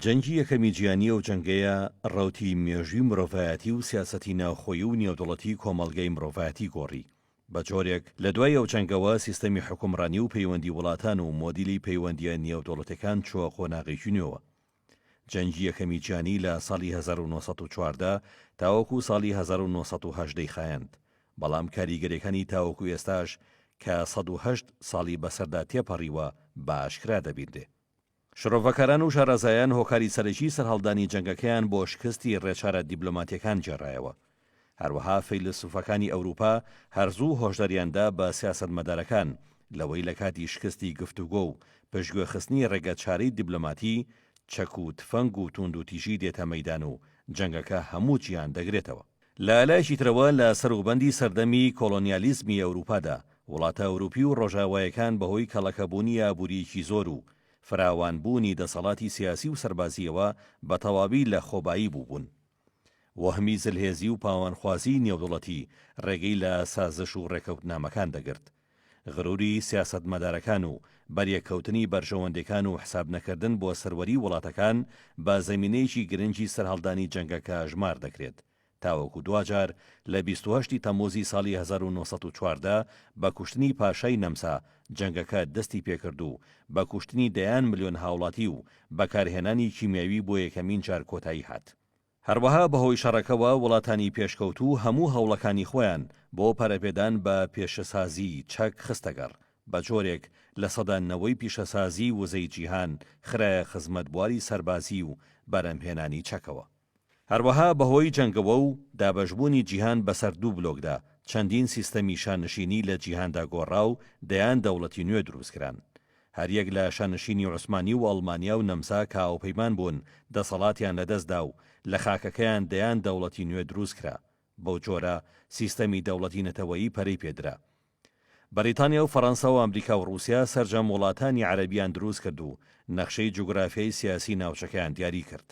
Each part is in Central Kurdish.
جەنگی یەکەمی جیهانی ئەو جەنگەیە ڕەوتی مێژووی مرۆڤایەتی و سیاسەتی ناوخۆیی و نێودەوڵەتی کۆمەڵگەی مرۆڤایەتی گۆڕی بە جۆرێک لە دوای ئەو جەنگەوە سیستەمی حوکمڕانی و پەیوەندی وڵاتان و مۆدیلی پەیوەندییە نێودەوڵەتەکان چووە قۆناغێکی نوێوە. جەنگی یەکەمی جیهانی لە ساڵی هەزار و نۆ سەد و چواردە تاوەکوو ساڵی هەزار و نۆ سەد و هەژدە ی خایاند بەڵام کاریگەریەکانی تاوەکو ئێستاش کە سەد و هەشت ساڵی بەسەردا تێپەڕیوە بە ئاشکرا دەبینرێ. شرۆڤەکاران و شارەزایان هۆکاری سەرەکی سەرهەڵدانی جەنگەکەیان بۆ شکستی ڕێچارە دیبلۆماتیەکان گێڕایەوە. هەروەها فەیلەسوفەکانی ئەوروپا هەر زوو هۆشداریان دا بە سیاسەتمەدارەکان لەوەی لە کاتی شکستی گفتوگۆ و پشتگوێخستنی ڕێگە چارەی دیبلۆماتی، چەک و تفەنگ و توندوتیژی دێتە مەیدان و جەنگەکە هەموو جیهان دەگرێتەوە. لە لایەکی ترەوە لە سەروبەندی سەردەمی کۆڵۆنیالیزمی ئەوروپادا، وڵاتە ئەوروپی و ڕۆژاوایەکان بەهۆی کەڵەکەبوونی ئابوورییەکی زۆر و فراوانبوونی دەسەڵاتی سیاسی و سەربازییەوە بە تەواوی لە خۆبایی بووبوون. وەهمی زلهێزی و پاوانخوازیی نێودەوڵەتی ڕێگەی لە سازش و ڕێکەوتنامەکان دەگرت. غروری سیاسەتمەدارەکان و بەریەککەوتنی بەرژەوەندیەکان و حساب نەکردن بۆ سەروەری وڵاتەکان بە زەمینەیەکی گرنگی سەرهەڵدانی جەنگەکە ژمار دەکرێت تاوەکو دواجار لە بیست و هەشت ی تەموزی ساڵی هەزار و نۆ سەد و چواردە بە کوشتنی پاشای نەمسا جەنگەکە دەستی پێکرد و بە کوشتنی دەیان ملیۆن هاوڵاتی و بەکارهێنانی کیمیاوی بۆ یەکەمین جار کۆتایی هات. هەروەها بەهۆی شەڕەکەوە وڵاتانی پێشکەوتوو هەموو هەوڵەکانی خۆیان بۆ پەرەپێدان بە پێشەسازیی چەک خستەگەڕ، بە جۆرێک لە سەدا نەوەی پیشەسازیی وزەی جیهان خرایە خزمەت بواری سەربازی و بەرهەمهێنانی چەکەوە. هەروەها بەهۆی جەنگەوە و دابەشبوونی جیهان بەسەر دوو بلۆکدا، چەندین سیستەمی شانشینی لە جیهاندا گۆڕا و دەیان دەوڵەتی نوێ دروستکران. هەریەک لە شانشینی عوسمانی و ئەڵمانیا و نەمسا کە هاوپەیمان بوون، دەسەڵاتیان لەدەست دا و لە خاکەکەیان دەیان دەوڵەتی نوێ دروست کرا. بەو جۆرە سیستەمی دەوڵەتی نەتەوەیی پەرەی پێ درا. بەریتانیا و فەرەنسا و ئەمریکا و ڕووسیا سەرجەم وڵاتانی عەرەبیان دروست کرد و نەخشەی جوگرافیای سیاسیی ناوچەکەیان دیاری کرد.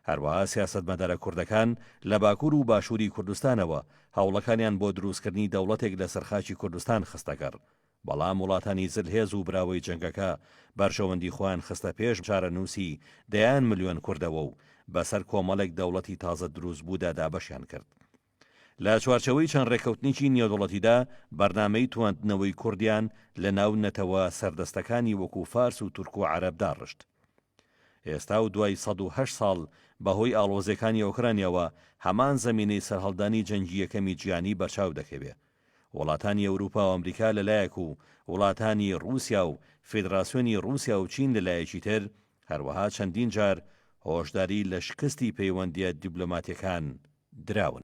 هەروەها سیاسەتمەدارە کوردەکان لە باکوور و باشووری کوردستانەوە هەوڵەکانیان بۆ درووستکردنی دەوڵەتێک لەسەر خاکی کوردستان خستەگەڕ، بەڵام وڵاتانی زلهێز و براوەی جەنگەکە بەرژەوەندی خۆیان خستە پێش چارەنووسی دەیان ملیۆن کوردەوە و بەسەر کۆمەڵێک دەوڵەتی تازە درووستبوودا دابەشیان کرد. لە چوارچێوەی چەند ڕێککەوتنێکی نێودەوڵەتیدا، بەرنامەی تواندنەوەی کوردیان لە ناو نەتەوە سەردەستەکانی وەکوو فارس و تورک و عەرەب داڕشت. ئێستا و دوای سەد و هەشت ساڵ، بە هۆی ئاڵۆزییەکانی ئۆکرانیاوە، هەمان زەمینەی سەرهەڵدانی جەنگی یەکەمی جیهانی بەرچاو دەکەوێ. وڵاتانی ئەوروپا و ئەمریکا لە لایەک و وڵاتانی ڕووسیا و فیدراسیۆنی ڕووسیا و چین لە لایەکی تر، هەروەها چەندین جار هۆشداری لە شکستی پەیوەندییە دیبلۆماتییەکان دراون.